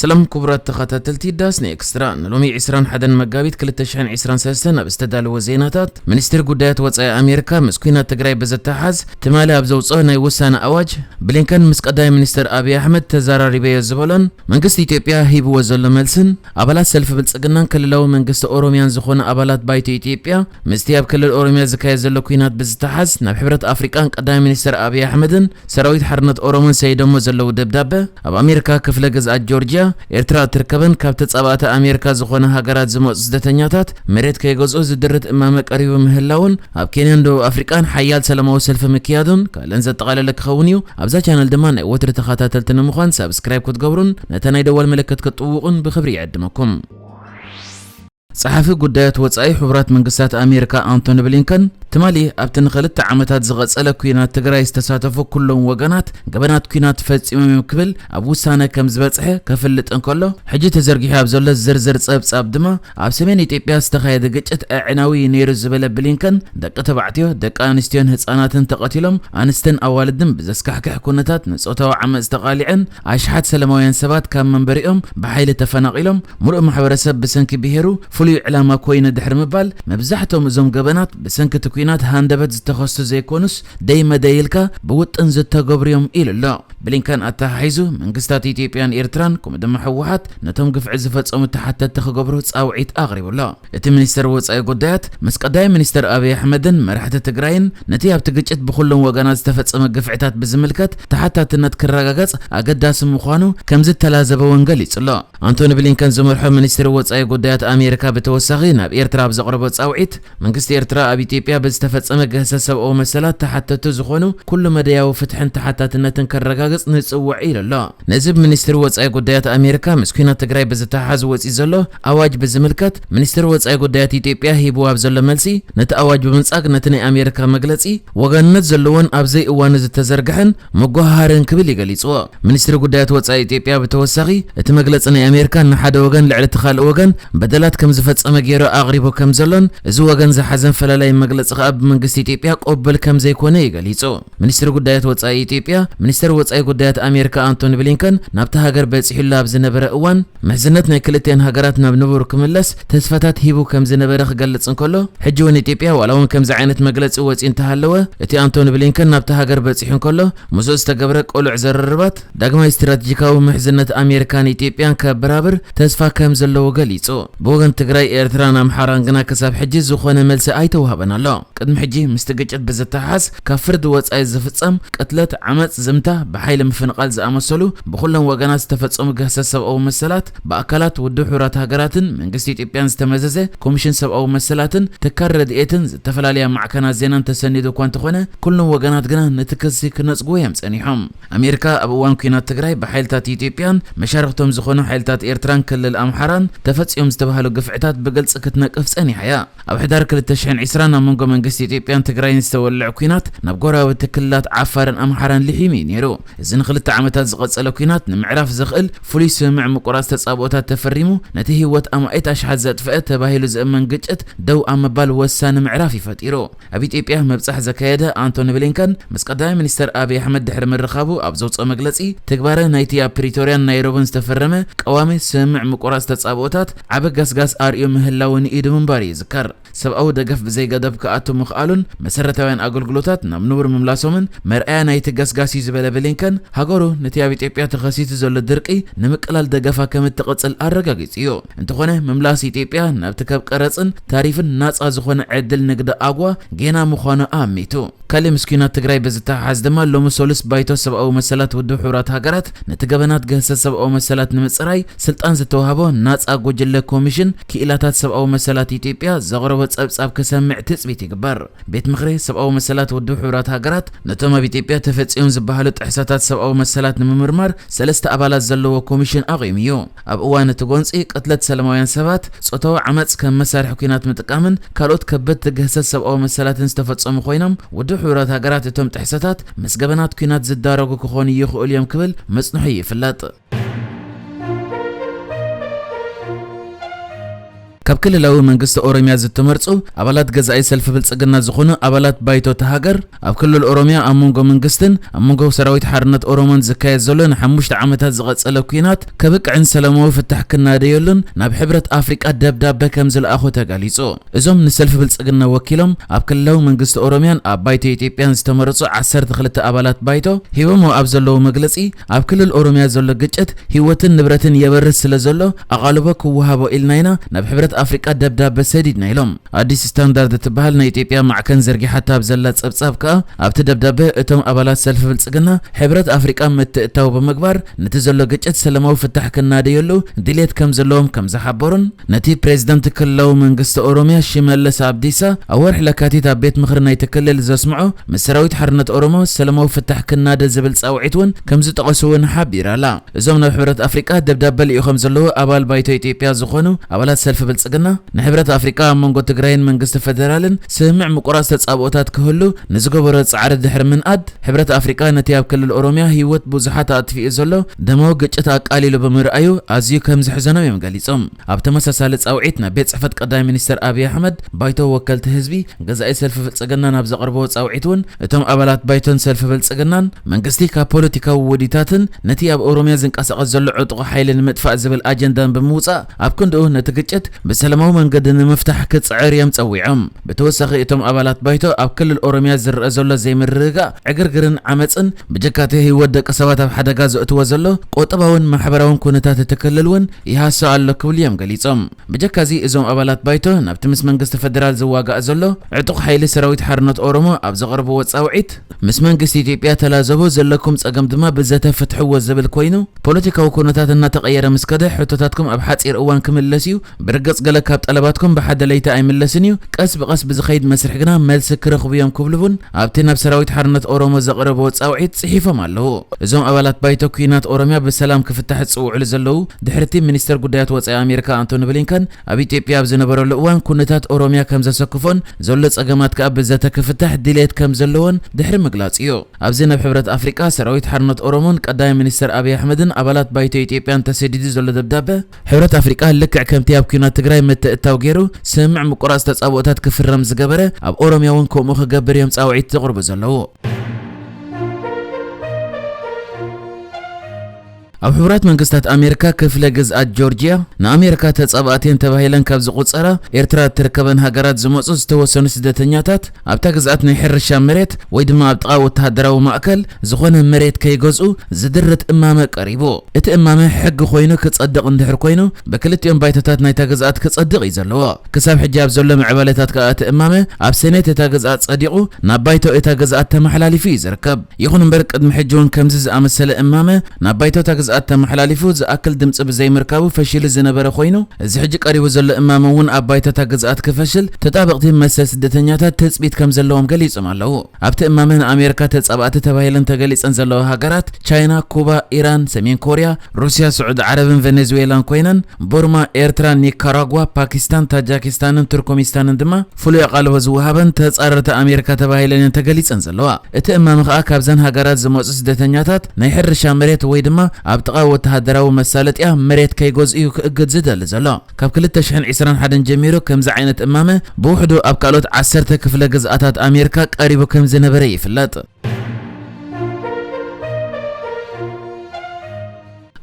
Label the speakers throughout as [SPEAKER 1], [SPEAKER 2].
[SPEAKER 1] ሰላም ኩቡራት ተኻታተልቲ ዳስ ን ኤክስትራ ንሎሚ ዕስራን ሓደን መጋቢት ክልተ ሽሕን ዕስራን ሰለስተን ኣብ ዝተዳለወ ዜናታት ሚኒስትሪ ጉዳያት ወጻኢ ኣሜሪካ ምስ ኩናት ትግራይ ብዝተሓሓዝ ትማሊ ኣብ ዘውጽኦ ናይ ውሳነ ኣዋጅ ብሊንከን ምስ ቀዳማይ ሚኒስትር ኣብይ ኣሕመድ ተዛራሪበዮ ዝበሎን መንግስቲ ኢትዮጵያ ሂብዎ ዘሎ መልስን ኣባላት ሰልፊ ብልጽግናን ክልላዊ መንግስቲ ኦሮሚያን ዝኾኑ ኣባላት ባይቶ ኢትዮጵያ ምስቲ ኣብ ክልል ኦሮሚያ ዝካየድ ዘሎ ኩናት ብዝተሓሓዝ ናብ ሕብረት ኣፍሪቃን ቀዳማይ ሚኒስትር ኣብይ ኣሕመድን ሰራዊት ሓርነት ኦሮሞን ሰይደሞ ዘለዉ ደብዳበ ኣብ ኣሜርካ ክፍለ ግዝኣት ጆርጅያ ኤርትራ እትርከበን ካብ ተጻባእቲ ኣሜርካ ዝኾና ሃገራት ዝመጹ ስደተኛታት መሬት ከይገዝኡ ዝድርት እማመ ቀሪቡ ምህላዉን ኣብ ኬንያን ደቡብ ኣፍሪቃን ሓያል ሰላማዊ ሰልፊ ምክያዱን ካልእን ዘጠቓለለ ክኸውን እዩ ኣብዛ ቻነል ድማ ናይ ወትሪ ተኻታተልቲ ንምዃን ሳብስክራይብ ክትገብሩን ነታ ናይ ደወል ምልክት ክትጥውቑን ብኽብሪ ይዕድመኩም። ጸሓፊ ጉዳያት ወጻኢ ሕቡራት መንግስታት ኣሜሪካ ኣንቶኒ ብሊንከን ትማሊ ኣብቲ ንክልተ ዓመታት ዝቐጸለ ኲናት ትግራይ ዝተሳተፉ ኩሎም ወገናት ገበናት ኲናት ፈጺሞም እዮም ክብል ኣብ ውሳነ ከም ዝበጽሐ ከፍልጥ እንከሎ ሕጂ ተዘርጊሑ ኣብ ዘሎ ዝርዝር ጸብጻብ ድማ ኣብ ሰሜን ኢትዮጵያ ዝተኻየደ ግጭት ኣዕናዊ እዩ ነይሩ ዝበለ ብሊንከን ደቂ ተባዕትዮ ደቂ ኣንስትዮን ህጻናትን ተቐቲሎም ኣንስትን ኣዋልድን ብዘስካሕክሕ ኩነታት ንጾታዊ ዓመጽ ተቓሊዐን ኣሽሓት ሰለማውያን ሰባት ካብ መንበሪኦም ብሓይሊ ተፈናቒሎም፣ ምሉእ ማሕበረሰብ ብሰንኪ ብሄሩ ፍሉይ ዕላማ ኮይኑ ድሕሪ ምባል፣ መብዛሕቶም እዞም ገበናት ብሰንኪ እቲ ኲናት ሃንደበት ዝተኸስቱ ዘይኮኑስ ደይ መደይ ኢልካ ብውጥን ዝተገብሩ'ዮም ኢሉ ኣሎ። ብሊንከን ኣተሓሒዙ፣ መንግስታት ኢትዮጵያን ኤርትራን ከምኡ ድማ ህወሓት ነቶም ግፍዒ ዝፈጸሙ ተሓተትቲ ክገብሩ ጻውዒት ኣቕሪቡ ኣሎ። እቲ ሚኒስተር ወጻኢ ጉዳያት ምስ ቀዳማይ ሚኒስተር ኣብይ ኣሕመድን መራሕቲ ትግራይን ነቲ ኣብቲ ግጭት ብኹሎም ወገናት ዝተፈጸመ ግፍዒታት ብዝምልከት ተሓታትነት ክረጋገጽ ኣገዳሲ ምዃኑ ከምዝተላዘበ'ውን ገሊጹ'ሎ። ኣንቶኒ ብሊንከን ዝመርሖ ሚኒስትሪ ወጻኢ ጉዳያት ኣሜሪካ ብተወሳኺ ናብ ኤርትራ ኣብ ዘቕረቦ ጻውዒት፣ መንግስቲ ኤርትራ ኣብ ኢትዮጵያ ብዝተፈጸመ ግህሰት ሰብኣዊ መሰላት ተሓተትቲ ዝኾኑ ኩሉ መዳያዊ ፍትሕን ተሓታትነትን ከረጋግጽ ንጽውዕ ኢሉ'ሎ። ነዚ ብ ሚኒስትሪ ወጻኢ ጉዳያት ኣሜሪካ ምስ ኲናት ትግራይ ብዝተሓሓዝ ወጺኡ ዘሎ ኣዋጅ ብዝምልከት ሚኒስትሪ ወጻኢ ጉዳያት ኢትዮጵያ ሂብዎ ኣብ ዘሎ መልሲ ነቲ ኣዋጅ ብምንጻግ ነቲ ናይ ኣሜሪካ መግለጺ ወገንነት ዘለዎን ኣብ ዘይእዋኑ ዝተዘርግሐን መጎሃሃርን ክብል እዩ ገሊጽዎ። ሚኒስትሪ ጉዳያት ወጻኢ ኢትዮጵያ ብተወሳኺ እቲ መግለጺ ናይ ኣሜሪካ ንሓደ ወገን ልዕሊ እቲ ካልእ ወገን በደላት ከም ዝፈጸመ ገይሩ ኣቕሪቡ ከም ዘሎን እዚ ወገን ዝሓዘን ፈላላዪ መግለጺ ከኣ ብመንግስቲ ኢትዮጵያ ቅቡል ከም ዘይኮነ እዩ ገሊጹ። ሚኒስትሪ ጉዳያት ወጻኢ ኢትዮጵያ፣ ሚኒስተር ወጻኢ ጉዳያት ኣሜሪካ ኣንቶኒ ብሊንከን ናብታ ሃገር በጺሑላ ኣብ ዝነበረ እዋን፣ ምሕዝነት ናይ ክልቲኣን ሃገራት ናብ ንቡር ክምለስ ተስፋታት ሂቡ ከም ዝነበረ ክገልጽ እንከሎ፣ ሕጂ'ውን ኢትዮጵያ ዋላ'ውን ከምዚ ዓይነት መግለጺ ወጺኡ እንተሃለወ፣ እቲ ኣንቶኒ ብሊንከን ናብታ ሃገር በጺሑ እንከሎ ምስኡ ዝተገብረ ቅሉዕ ዝርርባት፣ ዳግማይ ስትራቴጂካዊ ምሕዝነት ኣሜሪካን ኢትዮጵያን ከበራብር ተስፋ ከም ዘለዎ ገሊጹ። ብወገን ትግራይ፣ ኤርትራን ኣምሓራን ግና ክሳብ ሕጂ ዝኾነ መልሲ ኣይተዋህበን ኣሎ። ቅድሚ ሕጂ ምስቲ ግጭት ብዝተሓሓዝ ካብ ፍርዲ ወጻኢ ዝፍጸም ቅትለት፣ ዓመጽ፣ ዝምታ፣ ብሓይሊ ምፍንቓል ዝኣመሰሉ ብኹሎም ወገናት ዝተፈጸሙ ግህሰት ሰብኣዊ መሰላት ብኣካላት ውድብ ሕቡራት ሃገራትን መንግስቲ ኢትዮጵያን ዝተመዘዘ ኮሚሽን ሰብኣዊ መሰላትን ትካል ረድኤትን ዝተፈላለያ ማዕከናት ዜናን ተሰኒዱ እኳ እንተኾነ ኩሎም ወገናት ግና ነቲ ክሲ ክነጽጉዎ እዮም ጸኒሖም። ኣሜሪካ ኣብ እዋን ኲናት ትግራይ ብሓይልታት ኢትዮጵያን መሻርኽቶም ዝኾኑ ሓይልታት ኤርትራን ክልል ኣምሓራን ተፈጺዮም ዝተባህሉ ግፍዕታት ብግልጺ ክትነቅፍ ጸኒሓ እያ። ኣብ ሕዳር ክልተ ሽሕን ዕስራን ኣብ መንጎ መንግስቲ ኢትዮጵያን ትግራይን ዝተወልዐ ኲናት ናብ ጎረባብቲ ክልላት ዓፋርን ኣምሓራን ሊሒሙ እዩ ነይሩ። እዚ ንክልተ ዓመታት ዝቐጸለ ኲናት ንምዕራፍ ዘኽእል ፍሉይ ስምምዕ ምቁራጽ ተጻብኦታት ተፈሪሙ ነቲ ህይወት ኣማኢት ኣሽሓት ዘጥፈኣ ተባሂሉ ዝእመን ግጭት ደው ኣብ ምባል ወሳኒ ምዕራፍ እዩ ፈጢሩ። ኣብ ኢትዮጵያ ምብጻሕ ዘካየደ ኣንቶኒ ብሊንከን ምስ ቀዳማይ ሚኒስተር ኣብይ ኣሕመድ ድሕሪ ምርኻቡ ኣብ ዘውጽኦ መግለጺ፣ ትግባረ ናይቲ ኣብ ፕሪቶርያን ናይሮብን ዝተፈረመ ቀዋሚ ስምምዕ ምቁራጽ ተጻብኦታት ዓቢ ገስጋስ ኣርእዩ ምህላዉን ኢዱ ምንባሩ ይዝከር። ሰብኣዊ ደገፍ ብዘይገደብ ክኣቱ ምኽኣሉን መሰረታውያን ኣገልግሎታት ናብ ንቡር ምምላሶምን መርኣያ ናይቲ ገስጋስ'ዩ ዝበለ ብሊንከን፣ ሃገሩ ነቲ ኣብ ኢትዮጵያ ተኸሲቱ ዘሎ ድርቂ ንምቅላል ደገፋ ከምትቕጽል ኣረጋጊጹ'ዩ። እንተኾነ ምምላስ ኢትዮጵያ ናብቲ ካብ ቀረፅን ታሪፍን ናፃ ዝኾነ ዕድል ንግዲ ኣጉዋ ጌና ምዃኑ ኣሚቱ። ካሊእ ምስ ኲናት ትግራይ ብዝተሓሓዝ ድማ ሎሚ ሰሉስ ባይቶ ሰብኣዊ መሰላት ውድብ ሕቡራት ሃገራት ነቲ ገበናት ግህሰት ሰብኣዊ መሰላት ንምፅራይ ስልጣን ዝተውሃቦ ናፃ ጉጅለ ኮሚሽን ክኢላታት ሰብኣዊ መሰላት ኢትዮጵያ ዘቕረቦ ፀብፃብ ክሰምዕ ትፅቢት ይግበር። ቤት ምኽሪ ሰብኣዊ መሰላት ውድብ ሕቡራት ሃገራት ነቶም ኣብ ኢትዮጵያ ተፈፂዮም ዝበሃሉ ጥሕሰታት ሰብኣዊ መሰላት ንምምርማር ሰለስተ ኣባላት ዘለዎ ኮሚሽን ኣቚሙ እዩ። ኣብ እዋን እቲ ጎንፂ ቅትለት ሰለማውያን ሰባት፣ ፆታዊ ዓመፅ ከም መሳርሒ ኲናት ምጥቃምን ካልኦት ከበድቲ ግህሰት ሰብኣዊ መሰላትን ዝተፈፀሙ ኮይኖም ውድብ ሕቡራት ሃገራት እቶም ጥሕሰታት ምስ ገበናት ኲናት ዝዳረጉ ክኾኑ ይኽእሉ እዮም ክብል ምፅንሑ ይፍለጥ። ካብ ክልላዊ መንግስቲ ኦሮሚያ ዝተመርጹ ኣባላት ገዛኢ ሰልፊ ብልጽግና ዝኾኑ ኣባላት ባይቶ እታ ሃገር፣ ኣብ ክልል ኦሮሚያ ኣብ መንጎ መንግስትን ኣብ መንጎ ሰራዊት ሓርነት ኦሮሞን ዝካየድ ዘሎ ንሓሙሽተ ዓመታት ዝቐጸለ ኲናት ከብቅዕን ሰላማዊ ፍታሕ ክናደየሉን ናብ ሕብረት ኣፍሪቃ ደብዳበ ከምዝለኣኹ ተገሊጹ። እዞም ንሰልፊ ብልጽግና ወኪሎም ኣብ ክልላዊ መንግስቲ ኦሮሚያን ኣብ ባይቶ ኢትዮጵያን ዝተመረጹ ዓሰርተ ክልተ ኣባላት ባይቶ ሂቦምዎ ኣብ ዘለዉ መግለጺ፣ ኣብ ክልል ኦሮሚያ ዘሎ ግጭት ህይወትን ንብረትን የበርስ ስለዘሎ፣ ኣቓልቦ ክወሃቦ ኢልና ኢና ናብ ሕብረት ኣፍሪቃ ደብዳበ ሰዲድና ኢሎም። ኣዲስ ስታንዳርድ እትበሃል ናይ ኢትዮጵያ ማዕከን ዘርጊሓታ ኣብ ዘላ ጸብጻብ ከኣ ኣብቲ ደብዳበ እቶም ኣባላት ሰልፊ ብልጽግና ሕብረት ኣፍሪቃ ምትእትታው ብምግባር ነቲ ዘሎ ግጭት ሰለማዊ ፍታሕ ክናደየሉ ድልየት ከም ዘለዎም ከም ዝሓበሩን ነቲ ፕሬዚዳንት ክልላዊ መንግስቲ ኦሮሚያ ሽመልስ ኣብዲሳ ኣብ ወርሒ ለካቲት ኣብ ቤት ምኽሪ ናይቲ ክልል ዘስምዖ ምስ ሰራዊት ሓርነት ኦሮሞ ሰለማዊ ፍታሕ ክናደ ዝብል ጻውዒት እውን ከም ዝጠቐሱ እውን ሓቢራ ኣላ። እዞም ናብ ሕብረት ኣፍሪቃ ደብዳበ ልኢኾም ዘለዉ ኣባል ባይቶ ኢትዮጵያ ዝኾኑ ኣባላት ሰልፊ ብልጽግና፣ ንሕብረት ኣፍሪቃ ኣብ መንጎ ትግራይን መንግስቲ ፈደራልን ስምምዕ ምቁራጽ ተጻብኦታት ክህሉ ንዝገበሮ ጻዕሪ ድሕሪ ምንኣድ፣ ሕብረት ኣፍሪቃ ነቲ ኣብ ክልል ኦሮሚያ ህይወት ብዙሓት ኣጥፊኡ ዘሎ ደማዊ ግጭት ኣቃሊሉ ብምርኣዩ ኣዝዩ ከምዘሕዘኖም እዮም ገሊጾም። ኣብ ተመሳሳሊ ጻውዒት ናብ ቤት ጽሕፈት ቀዳማይ ሚኒስተር ኣብይ ኣሕመድ፣ ባይቶ ወከልቲ ህዝቢ፣ ገዛኢ ሰልፊ ብልጽግናን ኣብ ዘቐርብዎ ጻውዒት'ውን እቶም ኣባላት ባይቶን ሰልፊ ብልጽግናን፣ መንግስቲ ካብ ፖለቲካዊ ውዲታትን ነቲ ኣብ ኦሮምያ ዝንቀሳቐስ ዘሎ ዕጡቕ ሓይሊ ንምጥፋእ ዝብል ኣጀንዳን ብምውጻእ ኣብ ክንድኡ ነቲ ግጭት ብሰላማዊ መንገዲ ንምፍታሕ ክጽዕር እዮም ጸዊዖም። ብተወሳኺ እቶም ኣባላት ባይቶ ኣብ ክልል ኦሮምያ ዝረኣ ዘሎ ዘይምርግጋእ፣ ዕግርግርን ዓመጽን ብጀካ'ቲ ህይወት ደቂ ሰባት ኣብ ሓደጋ ዘእትዎ ዘሎ ቁጠባውን ማሕበራውን ኩነታት እቲ ክልል'ውን ይሃስው ኣሎ ክብሉ እዮም ገሊፆም። ብጀካ እዚ እዞም ኣባላት ባይቶ ናብቲ ምስ መንግስቲ ፈደራል ዝዋጋእ ዘሎ ዕጡቕ ሓይሊ ሰራዊት ሓርነት ኦሮሞ ኣብ ዘቕረብዎ ፃውዒት ምስ መንግስቲ ኢትዮጵያ ተላዘቡ ዘለኩም ፀገም ድማ ብዘተ ፍትሕዎ ዝብል ኮይኑ ፖለቲካዊ ኩነታት እናተቐየረ ምስ ከደ ሕቶታትኩም ኣብ ሓፂር እዋን ክምለስ እዩ ብርግፅ ገለ ካብ ጠለባትኩም ብሓደ ለይቲ ኣይምለስን እዩ ቀስ ብቐስ ብዝኸይድ መስርሕ ግና መልሲ ክረኽቡ እዮም ክብሉ እውን ኣብቲ ናብ ሰራዊት ሓርነት ኦሮሞ ዘቕረብዎ ፃውዒት ፅሒፎም ኣለዉ። እዞም ኣባላት ባይቶ ኲናት ኦሮሚያ ብሰላም ክፍታሕ ዝጽውዑሉ ዘለዉ፣ ድሕሪ'ቲ ሚኒስተር ጉዳያት ወጻኢ ኣሜሪካ ኣንቶኒ ብሊንከን ኣብ ኢትዮጵያ ኣብ ዝነበረሉ እዋን ኵነታት ኦሮሚያ ከም ዘሰክፎን ዘሎ ጸገማት ከኣ ብዘተ ክፍታሕ ድልየት ከም ዘለዎን ድሕሪ ምግላጹ'ዩ። ኣብዚ ናብ ሕብረት ኣፍሪቃ፣ ሰራዊት ሓርነት ኦሮሞን ቀዳማይ ሚኒስተር ኣብይ ኣሕመድን ኣባላት ባይቶ ኢትዮጵያን ተሰዲዱ ዘሎ ደብዳበ፣ ሕብረት ኣፍሪቃ ልክዕ ከምቲ ኣብ ኲናት ትግራይ ምትእትታው ገይሩ ስምምዕ ምቁራጽ ተጻብኦታት ክፍረም ዝገበረ ኣብ ኦሮምያ እውን ከምኡ ክገብር እዮም ጻውዒት ዘቕርቡ ዘለዉ። ኣብ ሕቡራት መንግስታት ኣሜሪካ ክፍለ ግዝኣት ጆርጅያ ንኣሜሪካ ተጻባእቲን ተባሂለን ካብ ዝቑጸራ ኤርትራ እትርከበን ሃገራት ዝመጹ ዝተወሰኑ ስደተኛታት ኣብታ ግዝኣት ናይ ሕርሻ መሬት ወይ ድማ ኣብ ጥቓ ወተሃደራዊ ማእከል ዝኾነ መሬት ከይገዝኡ ዝድርት እማመ ቀሪቡ። እቲ እማመ ሕጊ ኮይኑ ክጸድቕ እንድሕር ኮይኑ ብክልቲኦም ባይቶታት ናይታ ግዝኣት ክጸድቕ እዩ ዘለዎ። ክሳብ ሕጂ ኣብ ዘሎ ምዕባለታት ከኣ እቲ እማመ ኣብ ሰኔት እታ ግዝኣት ጸዲቑ ናብ ባይቶ እታ ግዝኣት ተመሓላሊፉ እዩ ዝርከብ። ይኹን እምበር ቅድሚ ሕጂ'ውን ከምዚ ዝኣመሰለ እማመ ናብ ባይቶታ ግዝኣት ተመሓላሊፉ ዝኣክል ድምፂ ብዘይምርካቡ ፈሺሉ ዝነበረ ኮይኑ እዚ ሕጂ ቀሪቡ ዘሎ እማመ እውን ኣብ ባይቶታ ግዝኣት ክፈሽል ተጣበቕቲ መሰል ስደተኛታት ትፅቢት ከምዘለዎም ገሊፆም ኣለው። ኣብቲ እማመ ንኣሜሪካ ተፃባእቲ ተባሂለን ተገሊፀን ዘለዋ ሃገራት ቻይና፣ ኩባ፣ ኢራን፣ ሰሜን ኮርያ፣ ሩስያ፣ ስዑዲ ዓረብን ቨኔዝዌላን ኮይነን ቡርማ፣ ኤርትራ፣ ኒካራጓ፣ ፓኪስታን፣ ታጃኪስታንን ቱርኩሚስታንን ድማ ፍሉይ ኣቓልቦ ዝወሃበን ተጻረርቲ ኣሜሪካ ተባሂለን እየን ተገሊጸን ዘለዋ። እቲ እማመ ከኣ ካብዘን ሃገራት ዝመጹ ስደተኛታት ናይ ሕርሻ መሬት ወይ ድማ ኣብ ጥቓ ወተሃደራዊ መሳለጥያ መሬት ከይገዝኡ እዩ ክእግድ ዝደሊ ዘሎ። ካብ ክልተ ሽሕን ዕስራን ሓደን ጀሚሩ ከምዚ ዓይነት እማመ ብውሕዱ ኣብ ካልኦት ዓሰርተ ክፍለ ግዝኣታት ኣሜሪካ ቀሪቡ ከም ዝነበረ ይፍለጥ።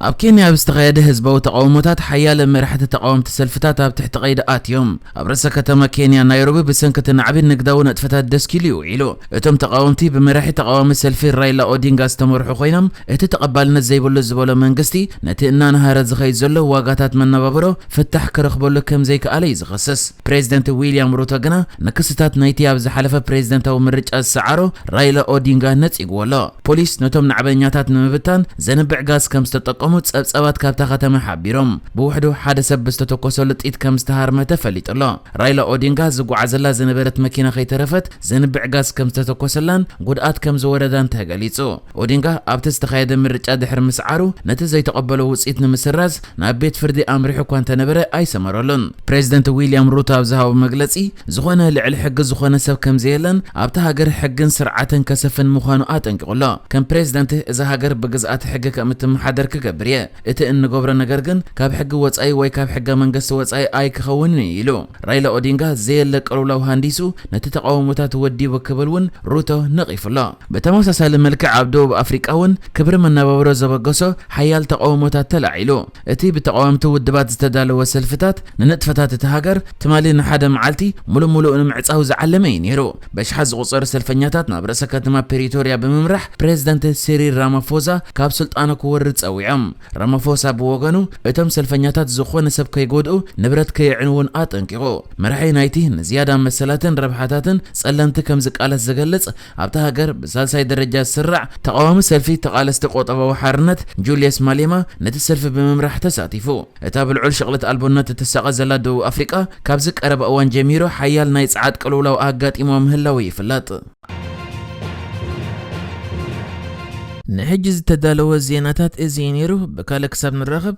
[SPEAKER 1] ኣብ ኬንያ ኣብ ዝተኻየደ ህዝባዊ ተቓውሞታት ሓያለ መራሕቲ ተቓወምቲ ሰልፍታት ኣብ ትሕቲ ቀይዲ ኣትዮም። ኣብ ርእሰ ከተማ ኬንያ ናይሮቢ ብሰንኪ እቲ ናዕቢ ንግዳዊ ንጥፈታት ደስኪሉ እዩ ውዒሉ። እቶም ተቓወምቲ ብመራሒ ተቓዋሚ ሰልፊ ራይላ ኦዲንጋ ዝተመርሑ ኮይኖም እቲ ተቐባልነት ዘይብሉ ዝበሎ መንግስቲ ነቲ እናነሃረ ዝኸይድ ዘሎ ዋጋታት መነባብሮ ፍታሕ ክረኽበሉ ከምዘይክኣለ እዩ ዝኸስስ። ፕሬዝደንት ዊልያም ሩቶ ግና ንክስታት ናይቲ ኣብ ዝሓለፈ ፕሬዝደንታዊ ምርጫ ዝሰዓሮ ራይላ ኦዲንጋ ነጺግዎ ኣሎ። ፖሊስ ነቶም ናዕበኛታት ንምብታን ዘንብዕ ጋዝ ከም ዝተጠቀሙ ጸብጻባት ካብታ ከተማ ሓቢሮም። ብውሕዱ ሓደ ሰብ ብዝተተኮሰሉ ጥይት ከም ዝተሃርመ ተፈሊጡ ኣሎ። ራይላ ኦዲንጋ ዝጓዓዘላ ዝነበረት መኪና ከይተረፈት ዘንብዕ ጋዝ ከም ዝተተኮሰላን ጉድኣት ከም ዝወረዳን ተገሊጹ። ኦዲንጋ ኣብቲ ዝተኻየደ ምርጫ ድሕሪ ምስዓሩ ነቲ ዘይተቐበሎ ውጽኢት ንምስራዝ ናብ ቤት ፍርዲ ኣምሪሑ እኳ እንተነበረ ኣይሰመረሉን። ፕሬዚደንት ዊልያም ሩቶ ኣብ ዝሃቦ መግለፂ ዝኾነ ልዕሊ ሕጊ ዝኾነ ሰብ ከምዘየለን ኣብታ ሃገር ሕግን ስርዓትን ከሰፍን ምዃኑ ኣጠንቂቑ ኣሎ። ከም ፕሬዚደንት እዛ ሃገር ብግዝኣተ ሕጊ ከምእትመሓደር ክገብር እየ። እቲ እንገብሮ ነገር ግን ካብ ሕጊ ወፃኢ ወይ ካብ ሕገ መንገስቲ ወፃኢ ኣይክኸውንን እዩ ኢሉ። ራይላ ኦዲንጋ ዘየለ ቅልውላው ሃንዲሱ ነቲ ተቓውሞታት ወዲቡ ክብል እውን ሩቶ ነቒፉ ኣሎ። ብተመሳሳሊ መልክዕ ኣብ ደቡብ ኣፍሪቃ እውን ክብሪ መነባብሮ ዘበገሶ ሓያል ተቓውሞታት ተላዒሉ። እቲ ብተቓወምቲ ውድባት ዝተዳለወ ሰልፍታት ንንጥፈታት እታ ሃገር ትማሊ ንሓደ መዓልቲ ምሉእ ምሉእ ንምዕጻው ዝዓለመ እዩ ነይሩ። በሽሓት ዝቑጸሩ ሰልፈኛታት ናብ ርእሰ ከተማ ፕሪቶርያ ብምምራሕ ፕሬዝደንት ሲሪል ራማፎዛ ካብ ስልጣኑ ክወርድ ጸዊዖም። ራማፎሳ ብወገኑ እቶም ሰልፈኛታት ዝኾነ ሰብ ከይጎድኡ ንብረት ከየዕንዉን ኣጠንቂቑ። መራሒ ናይቲ ንዝያዳ መሰላትን ረብሓታትን ጸለምቲ ከም ዝቃለስ ዝገልጽ ኣብታ ሃገር ብሳልሳይ ደረጃ ዝስራዕ ተቓዋሚ ሰልፊ ተቓለስቲ ቆጠባዊ ሓርነት፣ ጁልየስ ማሌማ፣ ነቲ ሰልፊ ብምምራሕ ተሳቲፉ። እታ ብልዑል ሽቕለት ኣልቦነት እትሳቐ ዘላ ደቡብ ኣፍሪቃ፣ ካብዚ ቀረባ እዋን ጀሚሩ ሓያል ናይ ጸዓት ቅልውላው ኣጋጢምዋ ምህላዉ ይፍለጥ። ንሕጂ ዝተዳለወ ዜናታት እዚ እዩ ነይሩ። ብካልእ ክሳብ ንራኸብ!